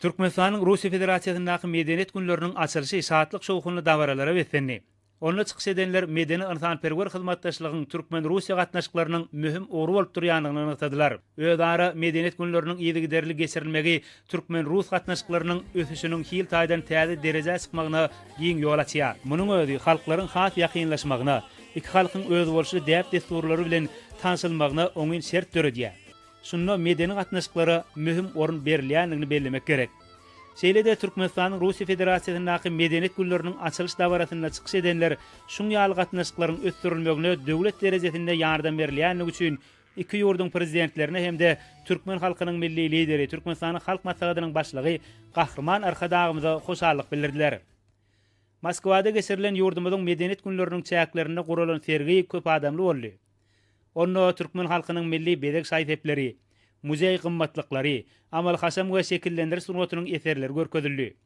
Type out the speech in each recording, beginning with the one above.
Türkmenistanyň Russiýa Federasiýasyndaky Medeniýet günleriniň açylyşy şatlyk-şowhunly dabaralara beslendi. Onda çykyş edenler medeni-ynsanperwer hyzmatdaşlygyň türkmen-russiýa gatnaşyklarynyň möhüm ugry bolup durýandygyny nygtadylar. Özara Medeniýet günleriniň yzygiderli geçirilmegi türkmen-rus gatnaşyklarynyň ösüşiniň hil taýdan täze derejä çykmagyna giň ýol açýar. Munuň özi halklaryň has ýakynlaşmagyna, iki halkyň özboluşly däp-dessurlary bilen tanşylmagyna oňyn şert döredýär. Şunda medeni gatnaşyklara möhüm orun berilýändigini bellemek gerek. Şeýle-de Türkmenistanyň Russiýa Federasiýasyndaky Medeniýet günleriniň açylyş dabarasynda çykyş edenler şuň ýaly gatnaşyklaryň ösdürilmegine döwlet derejesinde ýardam berilýändigi üçin iki ýurduň Prezidentlerine hem-de türkmen halkynyň Milli Lideri, Türkmenistanyň Halk Maslahatynyň Başlygy Gahryman Arkadagymyza hoşallyk bildirdiler. Moskwada geçirilen ýurdumyzyň Medeniýet günleriniň çäklerinde guralan sergi köp adamly boldy. Onda türkmen halkynyň milli bezeg-şaý-sepleri, muzeý gymmatlyklary, amal-haşam we şekillendiriş sungatynyň eserleri görkezildi.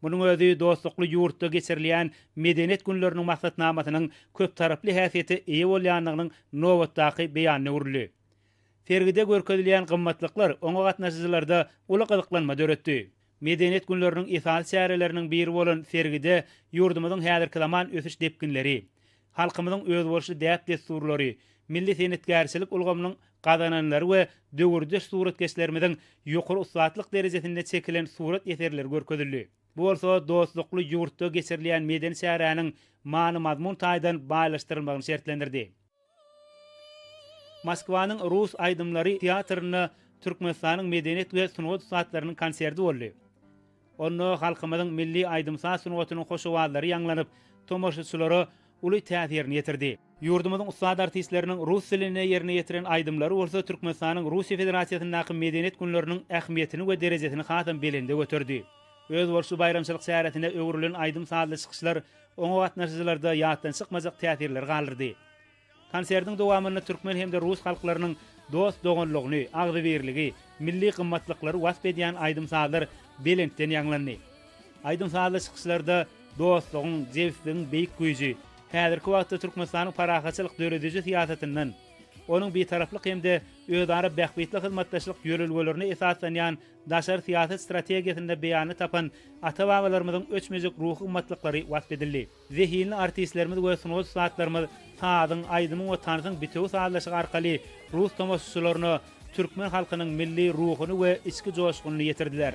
Munuň özi dostlukly ýurtda geçirilýän Medeniýet günleriniň maksatnamasynyň köptaraply häsiýete eýe bolýandygynyň nobatdaky beýanyna öwrüldi. Sergide görkezilýän gymmatlyklar oňa gatnaşyjylarda uly gyzyklanma döretdi. Medeniýet günleriniň esasy çäreleriniň biri bolan sergide ýurdumyzyň häzirkizaman ösüş depginleri, halkymyzyň özboluşly däp-dessurlary, milli senetgärçilik ulgamynyň gazananlary we döwürdeş suratkeşlerimiziň ýokary ussatlyk derejesinde çekilen surat eserleri görkezildi. Bu bolsa dostlukly ýurtda geçirilýän medeni çäräniň many-mazmun taýdan baýlaşdyrylmagyny şertlendirdi. Moskwanyň rus aýdymlary teatrynda Türkmenistanyň medeniýet we sungat ussatlarynyň konserti boldy. Onda halkymyzyň milli aýdym-saz sungatynyň hoş owazlary ýaňlanyp, tomaşaçylara uly täsirini ýetirdi. Ýurdumyzyň ussat artistleriniň rus dilinde ýerine ýetiren aýdymlary bolsa Türkmenistanyň Russiýa Federasiýasyndaky Medeniýet günleriniň ähmiýetini we derejesini hasam belende göterdi. Özboluşly baýramçylyk çäresine öwrülen aýdym-sazly çykyşlar oňa gatnaşyjylarda ýatdan çykmajak täsirler galdyrdy. Konsertiň dowamynda türkmen hem-de rus halklarynyň dost-doganlygyny, agzybirligi, milli gymmatlyklary wasp edýän aýdym-sazlar belentden ýaňlandy. Aýdym-sazly çykyşlarda dostlugyň, jebisligiň beýik güýji, häzirki wagtda Türkmenistanyň parahatçylyk dörediji syýasatyndan, onuň Bitaraplyk hem-de özara bähbitli hyzmatdaşlyk ýörelgelerine esaslanýan Daşary syýasat strategiýasynda beýanyny tapan ata-babalarymyzyň öçmejek ruhy gymmatlyklary wasp edildi. Zehinli artistlerimiz we sungat ussatlarymyz sazyň, aýdymyň we tansyň bitewi sazlaşygy arkaly rus tomaşaçylaryna türkmen halkynyň milli ruhuny we içki joşgunyny ýetirdiler.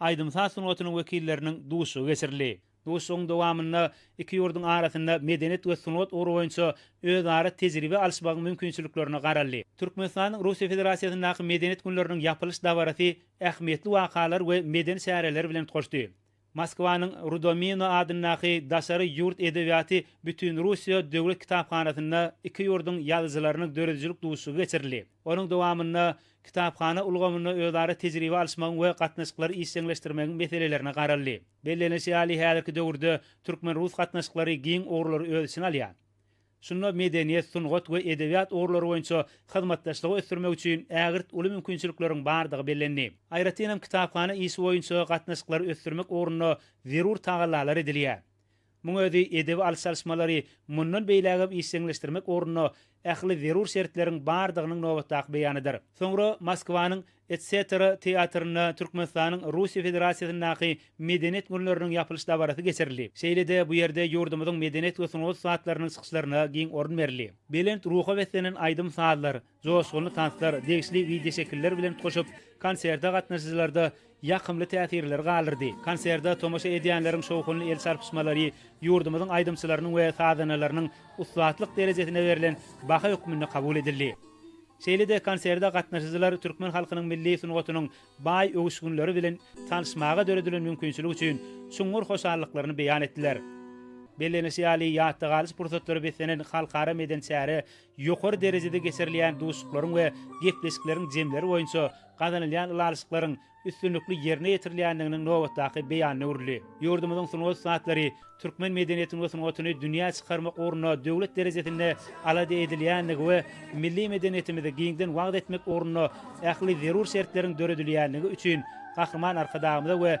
aýdym-saz sungatynyň wekilleriniň duşuşygy geçirildi. Duşuşygyň dowamynda iki ýurduň arasynda medeniýet we sungat ugry boýunça özara tejribe alyşmagyň mümkinçiliklerine garaldy. Türkmenistanyň Russiýa Federasiýasyndaky Medeniýet günleriniň ýapylyş dabarasy ähmiýetli wakalar we medeni çäreler bilen utgaşdy. Moskwanyň Rudomino adyndaky Daşary ýurt edebiýaty Bütinrussiýa döwlet kitaphanasynda iki ýurduň ýazyjylarynyň döredijilik duşuşygy geçirildi. Onuň dowamynda Kitaphana ulgamynda özara tejribe alyşmagyň we gatnaşyklary işjeňleşdirmegiň meselelerine garaldy. Bellenilişi ýaly, häzirki döwürde türkmen-rus gatnaşyklary giň ugurlary öz içine alýar. Şunda medeniýet, sungat we edebiýat ugurlary boýunça hyzmatdaşlygy ösdürmek üçin ägirt uly mümkinçilikleriň bardygy bellendi. Aýratynam kitaphana işi boýunça gatnaşyklary ösdürmek ugrunda zerur tagallalar edilýär. Muň özi edebi alyş-çalyşmalary mundan beýlägem işjeňleşdirmek ugrunda ähli zerur şertleriň bardygynyň nobatdaky beýanydyr. Soňra Moskwanyň etc. Teatrynda Türkmenistanyň Russiýa Federasiýasyndaky Medeniýet günleriniň ýapylyş dabarasy geçirildi. Şeýle-de bu ýerde ýurdumyzyň medeniýet we sungat ussatlarynyň çykyşlaryna giň orun berildi. Belent ruha beslenen aýdym-sazlar, Joşgunly tanslar, degişli wideoşekiller bilen goşup, konserte gatnaşyjylarda ýakymly täsirleri galdyrdy. Konserte tomaşa edýänleriň şowhunly el çarpyşmalary ýurdumyzyň aýdymçylarynyň we sazandalarynyň ussatlyk derejesine berlen baha hökmünde kabul edildi. Şeýle-de konserte gatnaşyjylar türkmen halkynyň milli sungatynyň baý öwüşginleri bilen tanyşmaga döredilen mümkinçilik üçin çuňňur hoşallyklaryny beýan etdiler. Bellenilişi ýaly, ýatda galyjy pursatlary beslenen halkara medeni çäre ýokary derejede geçirilýän duşuşyklaryň we gepleşikleriň jemleri boýunça gazanylýan ylalaşyklaryň üstünlikli ýerine ýetirilýändiginiň nobatdaky beýanyna öwrüldi. Ýurdumyzyň sungat ussatleri türkmen medeniýetini we sungatyny dünýä çykarmak ugrunda döwlet derejesinde alada edilýändigi we milli medeniýetimizi giňden wagyz etmek ugrunda ähli zerur şertleriň döredilýändigi üçin Gahryman Arkadagymyza we